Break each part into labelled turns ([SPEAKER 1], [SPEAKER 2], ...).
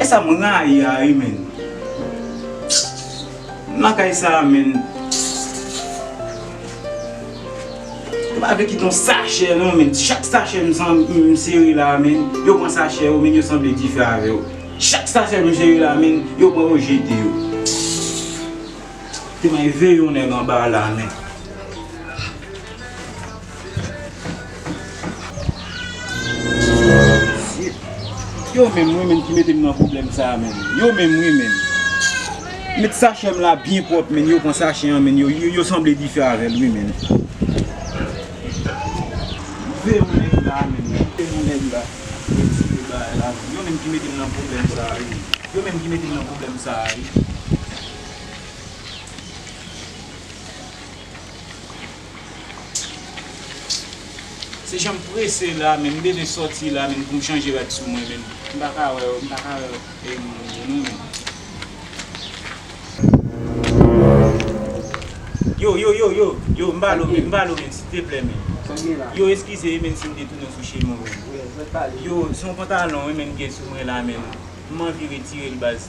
[SPEAKER 1] Esam rayi a ui menn. M lakay sa menn. Yo pa vle kite yon sachè non menn. Chak sachè m sere la menn. Yo pran sachè yo menn yo sanble dife avè yo. Chak sachè m sere la menn yo pran yo jete yo. Te may veye yon nèg anba la menn. Yo menm wi menm ki mete m nan pwoblèm sa menm. Yo menm wi menm. Met sachè m la byen pwòp menn. Yo pran sachè an menn. Yo sanble dife avè l wi menn. Ve yon nèg la menm. Ve yon nèg la. Retire bagay la menm. Yo menm ki mete m nan pwoblèm sa wi. Yo menm ki mete m nan pwoblèm sa wi. Se janm prese la menm m bezwen soti la menm poum chanje rad sou mwen menm m paka wè m paka wè e moun yo non menm. Yo yo yo yo yo m pale w menm m pale w menm siteplè menm yo eskize wi menn si m te tounen w sou chemen w menm yo son pantalon wi menm m gen sou mwen la menm m anvi retire l baz.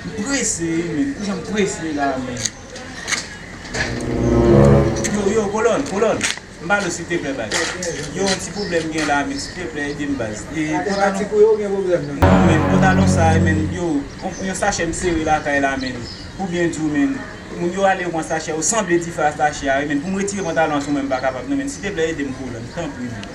[SPEAKER 1] M prese ui menn ki janm prese la menn Yo yo kolòn kolòn M pale w silteplè baz Yo yon ti pwoblèm m gen la menn silteplè ede m baz Non menn pantalon sa a menn Yo yon sachè m sere lakay la menn Pou byen di w menn Moun yo ale yo pran sachè yo sanble dife a sachè a wi menn Pou m retire pantalon an sou mwen m pa kapab non menn silteplè ede m kolòn tanpri menn.